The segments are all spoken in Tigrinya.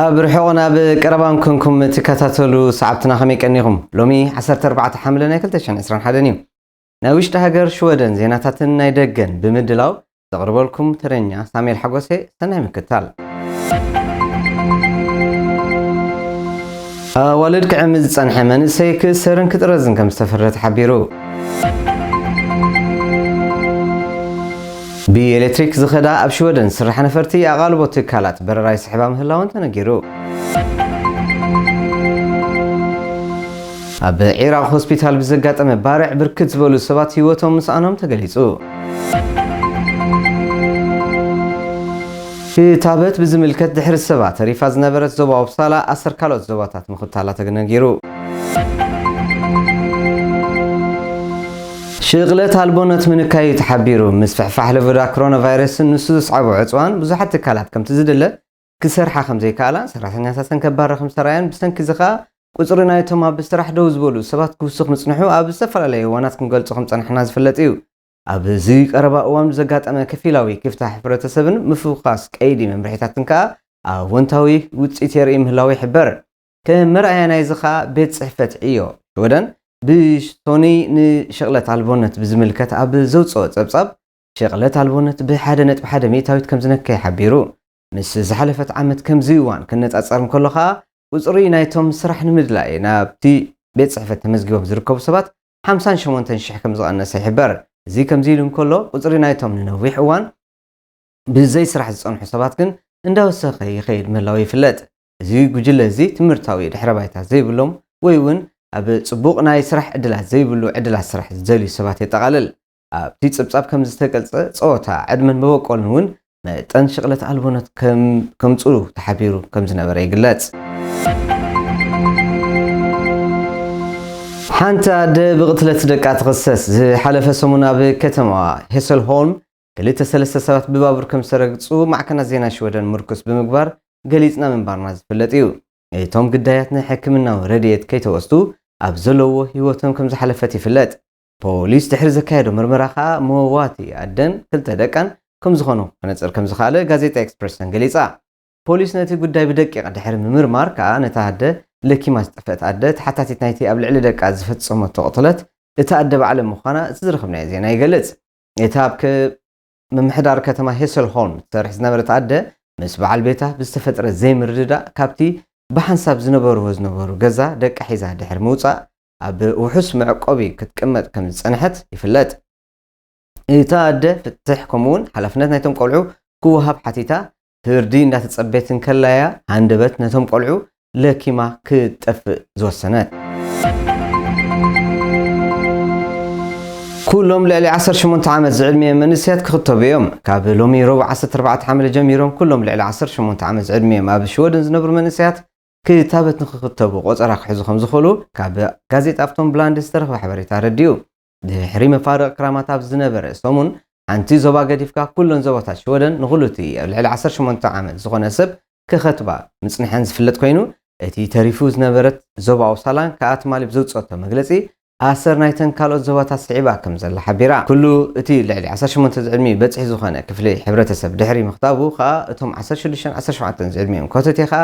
ኣብ ርሑቕን ኣብ ቀረባን ኮንኩም ትከታተሉ ሰዓብትና ከመይ ቀኒኹም? ሎሚ ዓሰርተ ኣርባዕተ ሓምለ ናይ ክልተ ሽሕን ዕስራን ሓደን እዩ። ናይ ውሽጢ ሃገር ሽወደን ዜናታትን ናይ ደገን ብምድላው ዘቕርበልኩም ተረኛ ሳሙኤል ሓጎሴ ሰናይ ምክታል። ኣዋልድ ክዕምዝ ዝጸንሐ መንእሰይ ክእሰርን ክጥረዝን ከም ዝተፈረደ ተሓቢሩ። ብኤሌክትሪክ ዝኸዳ ኣብ ሽወደን ዝስርሓ ነፈርቲ ኣቓልቦ ትካላት በረራ ይስሕባ ምህላወን ተነጊሩ። ኣብ ዒራቕ ሆስፒታል ብዘጋጠመ ባርዕ ብርክት ዝበሉ ሰባት ህይወቶም ምስኣኖም ተገሊጹ። ክታበት ብዝምልከት ድሕሪ ሰባ ተሪፋ ዝነበረት ዞባ ኦፕሳላ ኣሰር ካልኦት ዞባታት ምኽታላ ተነጊሩ። ሽቕለት ኣልቦነት ምንካይ'ዩ ተሓቢሩ። ምስፍሕፋሕ ለበዳ ኮሮናቫይረስን ንሱ ዘስዓቦ ዕጽዋን ብዙሓት ትካላት ከምቲ ዝድለ ክሰርሓ ከምዘይከኣላን ሰራሕተኛታተን ከባራ ከምዝተራእያን ብሰንኪ'ዚ ከኣ ቁጽሪ ናይቶም ኣብ ስራሕ ደው ዝበሉ ሰባት ክውስኽ ምጽንሑ ኣብ ዝተፈላለየ እዋናት ክንገልጾ ከምዝጸናሕና ዝፍለጥ'ዩ። ኣብዚ ቀረባ እዋን ብዘጋጠመ ከፊላዊ ክፍታ ሕብረተሰብን ምፍዃስ ቀይዲ መምርሒታትን ከኣ ኣወንታዊ ውጽኢት የርኢ ምህላዉ ይሕበር። ከም መርኣያ ናይዚ ከኣ ቤት ጽሕፈት ዕዮ ሽወደን ብሶኑይ ንሽቕለት ኣልቦነት ብዝምልከት ኣብ ዘውጽኦ ጸብጻብ፣ ሽቕለት ኣልቦነት ብሓደ ነጥቢ ሓደ ሚእታዊት ከም ዝነከየ ሓቢሩ። ምስ ዝሓለፈት ዓመት ከምዚ እዋን ክነጻጸር እንከሎ ከኣ ቁጽሪ ናይቶም ስራሕ ንምድላይ ናብቲ ቤት ጽሕፈት ተመዝጊቦም ዝርከቡ ሰባት ሓምሳን ሸሞንተን ሽሕ ከም ዝቐነሰ ይሕበር። እዚ ከምዚ ኢሉ እንከሎ ቁጽሪ ናይቶም ንነዊሕ እዋን ብዘይስራሕ ዝጸንሑ ሰባት ግን እንዳወሰኸ ይኸይድ ምህላዉ ይፍለጥ። እዚ ጉጅለ እዚ ትምህርታዊ ድሕረ ባይታ ዘይብሎም ወይ እውን ኣብ ጽቡቕ ናይ ስራሕ ዕድላት ዘይብሉ ዕድላት ስራሕ ዝደልዩ ሰባት የጠቓልል። ኣብቲ ጽብጻብ ከም ዝተገልጸ፣ ጸወታ፣ ዕድመን መበቆልን እውን መጠን ሽቕለት ኣልቦነት ከም ከምጽኡ ተሓቢሩ ከም ዝነበረ ይግለጽ። ሓንቲ ኣደ ብቕትለት ደቃ ትኽሰስ። ዝሓለፈ ሰሙን ኣብ ከተማዋ ሄሰልሆልም ክልተ ሰለስተ ሰባት ብባቡር ከም ዝተረግጹ ማዕከናት ዜና ሽወደን ምርኩስ ብምግባር ገሊጽና ምንባርና ዝፍለጥ እዩ። እቶም ግዳያት ንሕክምናዊ ረድኤት ከይተወስዱ ኣብ ዘለዉዎ ህይወቶም ከም ዝሓለፈት ይፍለጥ። ፖሊስ ድሕሪ ዘካየዶ ምርመራ ከኣ መዋቲ ኣደን ክልተ ደቃን ከም ዝኾኑ ክነጽር ከም ዝኸኣለ ጋዜጣ ኤክስፕረሰን ገሊጻ። ፖሊስ ነቲ ጉዳይ ብደቂቕ ድሕሪ ምምርማር ከኣ ነታ ኣደ ለኪማ ዝጠፍአት ኣደ ተሓታቲት ናይቲ ኣብ ልዕሊ ደቃ ዝፈጸመቶ ቅትለት እታ ኣደ ባዕለ ምዃና እቲ ዝረኸብናዮ ዜና ይገልጽ። እታ ኣብ ምምሕዳር ከተማ ሄሰልሆልም ትሰርሕ ዝነበረት ኣደ ምስ በዓል ቤታ ብዝተፈጥረ ዘይምርድዳእ ካብቲ ብሓንሳብ ዝነበርዎ ዝነበሩ ገዛ ደቃ ሒዛ ድሕሪ ምውጻእ ኣብ ውሑስ መዕቆቢ ክትቅመጥ ከም ዝጸንሐት ይፍለጥ። እታ ኣደ ፍትሕ ከምኡ'ውን ሓላፍነት ናይቶም ቆልዑ ክወሃብ ሓቲታ ፍርዲ እንዳተጸበየት እንከላ እያ ሃንደበት ነቶም ቆልዑ ለኪማ ክትጠፍእ ዝወሰነት። ኩሎም ልዕሊ ዓሰርተ ሸሞንተ ዓመት ዝዕድሚኦም መንእሰያት ክኽተቡ እዮም። ካብ ሎሚ ረቡዕ ዓሰርተ ኣርባዕተ ሓምለ ጀሚሮም ኩሎም ልዕሊ ዓሰርተ ሸሞንተ ዓመት ዝዕድሚኦም ኣብ ሽወደን ዝነብሩ መንእሰያት ክታበት ንኽኽተቡ ቆጸራ ክሕዙ ከም ዝኽእሉ ካብ ጋዜጣ ኣፍቶንብላንድት ዝተረኽበ ሓበሬታ ኣረዲኡ። ድሕሪ መፋርቕ ክራማት ኣብ ዝነበረ ሰሙን፣ ሓንቲ ዞባ ገዲፍካ ኩለን ዞባታት ሽወደን ንኹሉ'ቲ ኣብ ልዕሊ ዓሰርተ ሸሞንተ ዓመት ዝኾነ ሰብ ክኸትባ ምጽንሐን ዝፍለጥ ኮይኑ፣ እቲ ተሪፉ ዝነበረት ዞባ ኦፕሳላን ከኣ ትማሊ ብዘውጽኦቶ መግለጺ፣ ኣሰር ናይተን ካልኦት ዞባታት ስዒባ ከምዘላ ሓቢራ። ኩሉ እቲ ልዕሊ ዓሰርተ ሸሞንተ ዝዕድሚኡ በጽሒ ዝኾነ ክፍሊ ሕብረተሰብ ድሕሪ ምኽታቡ ከኣ እቶም ዓሰርተ ሽዱሽተን ዓሰርተ ሸውዓተን ዝዕድሚኦም ኮተቴ ከኣ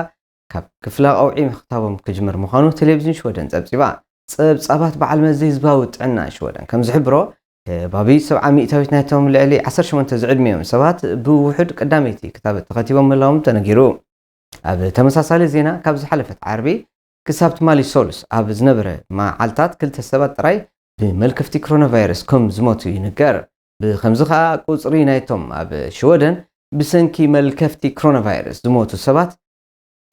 ካብ ክፍላ ቀውዒ ምኽታቦም ክጅምር ምዃኑ ቴሌቪዝን ሽወደን ጸብጺባ። ጸብጻባት በዓል መዚ ህዝባዊ ጥዕና ሽወደን ከም ዝሕብሮ፣ ከባቢ ሰብዓ ሚእታዊት ናይቶም ልዕሊ ዓሰርተ ሸሞንተ ዝዕድሚኦም ሰባት ብውሑድ ቀዳመይቲ ክታበት ተኸቲቦም ምህላዎም ተነጊሩ። ኣብ ተመሳሳሊ ዜና ካብ ዝሓለፈት ዓርቢ ክሳብ ትማሊ ሰሉስ ኣብ ዝነበረ መዓልታት ክልተ ሰባት ጥራይ ብመልከፍቲ ክሮናቫይረስ ከም ዝሞቱ ይንገር። ብኸምዚ ከኣ ቁጽሪ ናይቶም ኣብ ሽወደን ብሰንኪ መልከፍቲ ክሮናቫይረስ ዝሞቱ ሰባት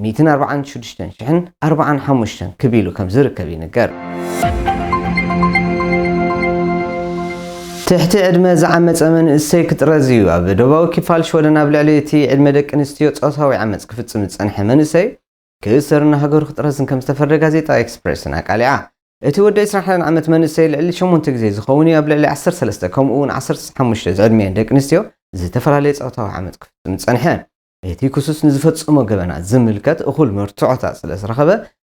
ሚእትን ኣርብዓን ሽዱሽተን ሽሕን ኣርብዓን ሓሙሽተን ክብ ኢሉ ከም ዝርከብ ይንገር። ትሕቲ ዕድመ ዝዓመጸ መንእሰይ ክጥረዝ እዩ። ኣብ ደቡባዊ ክፋል ሽወደን ኣብ ልዕሊ እቲ ዕድመ ደቂ ኣንስትዮ ጾታዊ ዓመጽ ክፍጽም ዝጸንሐ መንእሰይ ክእሰርን ንሃገሩ ክጥረዝን ከም ዝተፈረደ ጋዜጣ ኤክስፕረስን ኣቃሊዓ። እቲ ወዲ ዕስራን ሓደን ዓመት መንእሰይ ልዕሊ ሸሞንተ ግዜ ዝኸውን እዩ ኣብ ልዕሊ ዓሰርተ ሰለስተ ከምኡ'ውን ዓሰርተ ሓሙሽተ ዝዕድሚኤን ደቂ ኣንስትዮ ዝተፈላለየ ጾታዊ ዓመጽ ክፍጽም ዝጸንሐ። እቲ ክሱስ ንዝፈጸሞ ገበናት ዝምልከት እኹል መርትዖታት ስለ ዝረኸበ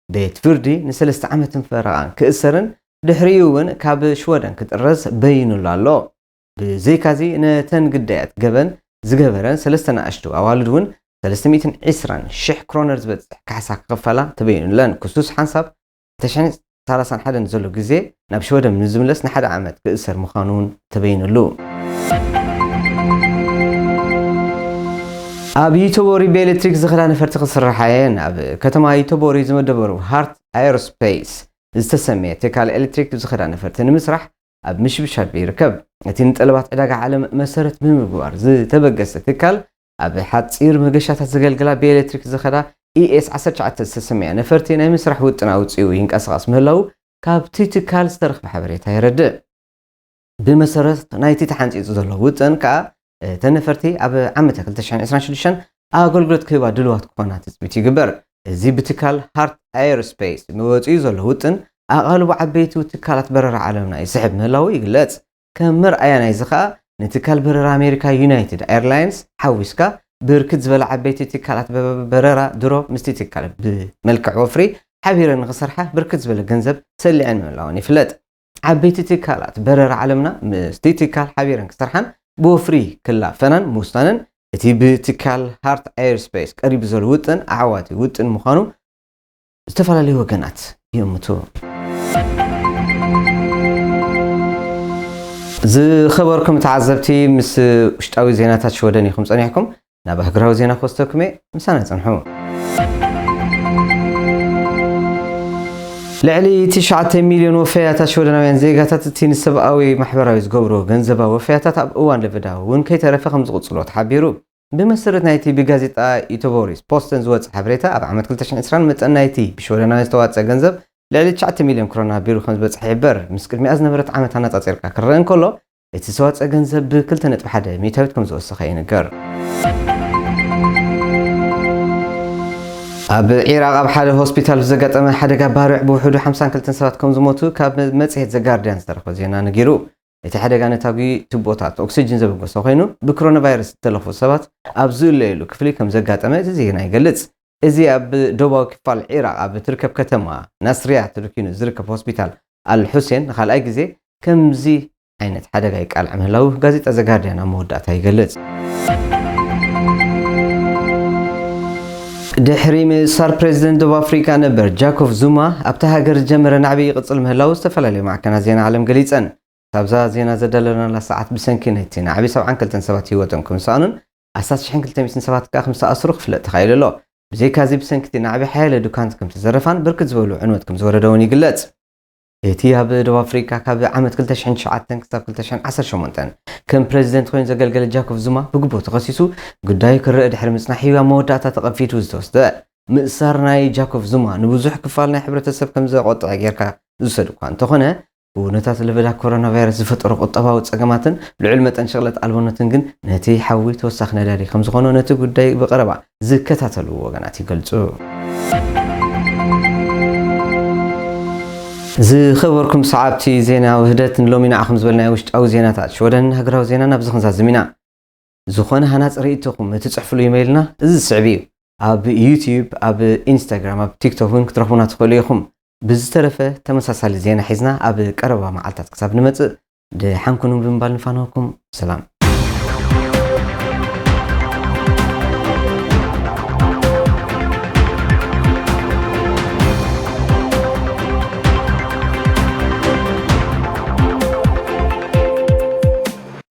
ቤት ፍርዲ ንሰለስተ ዓመትን ፈረቓን ክእሰርን ድሕሪኡ'ውን ካብ ሽወደን ክጥረዝ በዪኑሉ ኣሎ። ብዘይካዚ ነተን ግዳያት ገበን ዝገበረን ሰለስተ ናእሽቱ ኣዋልድ እውን ሰለስተ ሚእትን ዒስራን ሽሕ ክሮነር ዝበፅሕ ካሕሳ ክኽፈላ ተበይኑለን። ክሱስ ሓንሳብ ክልተ ሽሕን ሰላሳን ሓደን ዘሎ ግዜ ናብ ሽወደም ንዝምለስ ንሓደ ዓመት ክእሰር ምዃኑ እውን ተበይኑሉ። ኣብ ዩተቦሪ ብኤሌክትሪክ ዝኸዳ ነፈርቲ ክስርሓ እየን። ኣብ ከተማ ዩተቦሪ ዝመደበሩ ሃርት ኣየሮስፔይስ ዝተሰምየ ትካል ኤሌክትሪክ ዝኸዳ ነፈርቲ ንምስራሕ ኣብ ምሽብሻብ ይርከብ። እቲ ንጠለባት ዕዳጋ ዓለም መሰረት ብምግባር ዝተበገሰ ትካል፣ ኣብ ሓጺር መገሻታት ዘገልግላ ብኤሌክትሪክ ዝኸዳ ኢኤስ ዓሰርተ ትሽዓተ ዝተሰምያ ነፈርቲ ናይ ምስራሕ ውጥን ኣውጺኡ ይንቀሳቐስ ምህላዉ ካብቲ ትካል ዝተረኽበ ሓበሬታ የረድእ። ብመሰረት ናይቲ ተሓንጺጹ ዘሎ ውጥን ከኣ፣ እተን ነፈርቲ ኣብ ዓመተ ክልተ ሽሕን ዕስራን ሽዱሽተን ኣገልግሎት ክህባ ድሉዋት ክኾና ትፅቢት ይግበር። እዚ ብትካል ሃርት ኣየር ስፔስ ንወፂኡ ዘሎ ውጥን ኣቓልቦ ዓበይቲ ትካላት በረራ ዓለምና ይስሕብ ምህላዉ ይግለፅ። ከም መርኣያ ናይዚ ከኣ ንትካል በረራ ኣሜሪካ ዩናይትድ ኣየርላይንስ ሓዊስካ ብርክት ዝበላ ዓበይቲ ትካላት በረራ ድሮ ምስቲ ትካል ብመልክዕ ወፍሪ ሓቢረን ንኽሰርሓ ብርክት ዝበለ ገንዘብ ሰሊዐን ምህላወን ይፍለጥ። ዓበይቲ ትካላት በረራ ዓለምና ምስቲ ትካል ሓቢረን ክሰርሓን ብወፍሪ ክላፈናን ምውሳነን እቲ ብትካል ሃርት ኤርስፔስ ቀሪቡ ዘሎ ውጥን ኣዕዋቲ ውጥን ምዃኑ ዝተፈላለዩ ወገናት ይእምቱ። ዝኸበርኩም ተዓዘብቲ ምስ ውሽጣዊ ዜናታት ሽወደን ኢኹም ጸኒሕኩም። ናብ ኣህግራዊ ዜና ክወስደኩም'የ ምሳና ጽንሑ። ልዕሊ ትሽዓተ ሚልዮን ወፈያታት ሽወደናውያን ዜጋታት እቲ ንሰብኣዊ ማሕበራዊ ዝገብርዎ ገንዘባዊ ወፈያታት ኣብ እዋን ለበዳ እውን ከይተረፈ ከምዝቕጽልዎ ተሓቢሩ። ብመሰረት ናይቲ ብጋዜጣ ዩተቦሪስ ፖስተን ዝወጸ ሓበሬታ ኣብ ዓመት ክልተ ሽሕን ዕስራን መጠን ናይቲ ብሽወደናውያን ዝተዋጽኣ ገንዘብ ልዕሊ ትሽዓተ ሚልዮን ክሮና ቢሩ ከምዝበጽሐ ይሕበር። ምስ ቅድሚኣ ዝነበረት ዓመት ኣነጻጺርካ ክረኣ እንከሎ እቲ ዝተዋፀኣ ገንዘብ ብ ክልተ ነጥቢ ሓደ ሚእታዊት ከምዝወሰኸ ይንገር። ኣብ ዒራቕ ኣብ ሓደ ሆስፒታል ብዘጋጠመ ሓደጋ ባርዕ ብውሕዱ ሓምሳን ክልተን ሰባት ከምዝሞቱ ካብ መጽሔት ዘ ጋርድያን ዝተረኽበ ዜና ነጊሩ። እቲ ሓደጋ ነታጒ ቱቦታት ኦክስጅን ዘበገሶ ኮይኑ፣ ብክሮናቫይረስ ዝተለኽፉ ሰባት ኣብ ዝእለዩሉ ክፍሊ ከምዘጋጠመ እቲ ዜና ይገልጽ። እዚ ኣብ ደቡባዊ ክፋል ዒራቕ ኣብ እትርከብ ከተማ ናስርያ ተደኲኑ ዝርከብ ሆስፒታል ኣል-ሑሴን ንኻልኣይ ግዜ ከምዚ ዓይነት ሓደጋ ይቃላዕ ምህላዉ ጋዜጣ ዘ ጋርድያን ኣብ መወዳእታ ይገልጽ። ድሕሪ ምእሳር ፕረዚደንት ደቡብ ኣፍሪቃ ነበር ጃኮቭ ዙማ፣ ኣብታ ሃገር ዝጀመረ ናዕቢ ይቕጽል ምህላዉ ዝተፈላለያ ማዕከናት ዜና ዓለም ገሊጸን። ክሳብ'ዛ ዜና ዘዳለናላ ሰዓት ብሰንኪ ናይቲ ናዕቢ ሰብዓን ክልተን ሰባት ህይወቶም ከምዝሰኣኑን ኣስታት ሽሕን ክልተ ሚእትን ሰባት ከኣ ከምዝተኣስሩ ክፍለጥ ተኻኢሉ ኣሎ። ብዘይካ'ዚ ብሰንኪ'ቲ ናዕቢ ሓያለ ዱካንት ከምዝተዘረፋን ብርክት ዝበሉ ዕንወት ከምዝወረደ'ውን ይግለጽ። እቲ ኣብ ደቡብ ኣፍሪቃ ካብ ዓመት ክልተ ሽሕን ትሽዓተን ክሳብ ክልተ ሽሕን ዓሰርተ ሸሞንተን ከም ፕረዚደንት ኮይኑ ዘገልገለ ጃኮቭ ዙማ ብግቡእ ተኸሲሱ ጉዳዩ ክርእ ድሕሪ ምጽናሕ'ዩ ኣብ መወዳእታ ተቐንፊቱ ዝተወስደ። ምእሳር ናይ ጃኮቭ ዙማ ንብዙሕ ክፋል ናይ ሕብረተሰብ ከምዘቖጥዐ ጌርካ ዝውሰድ'ኳ እንተኾነ ኩነታት ለበዳ ኮሮናቫይረስ ዝፈጠሮ ቁጠባዊ ጸገማትን ልዑል መጠን ሸቕለት ኣልቦነትን ግን ነቲ ሓዊ ተወሳኺ ነዳዲ ከምዝኾኖ ነቲ ጉዳይ ብቐረባ ዝከታተሉ ወገናት ይገልጹ። ዝኸበርኩም ሰዓብቲ ዜና ውህደት ንሎሚ ንዓኹም ዝበልናዮ ውሽጣዊ ዜናታት ሽወደን ሃገራዊ ዜና ናብዚ ክንዛዝም ኢና። ዝኾነ ሃናፂ ርእይቶኹም እትፅሕፍሉ ኢመይልና እዚ ዝስዕብ እዩ። ኣብ ዩትዩብ፣ ኣብ ኢንስታግራም፣ ኣብ ቲክቶክ እውን ክትረኽቡና ትኽእሉ ኢኹም። ብዝተረፈ ተመሳሳሊ ዜና ሒዝና ኣብ ቀረባ መዓልታት ክሳብ ንመፅእ ድሓን ኩኑ ብምባል ንፋነወኩም። ሰላም!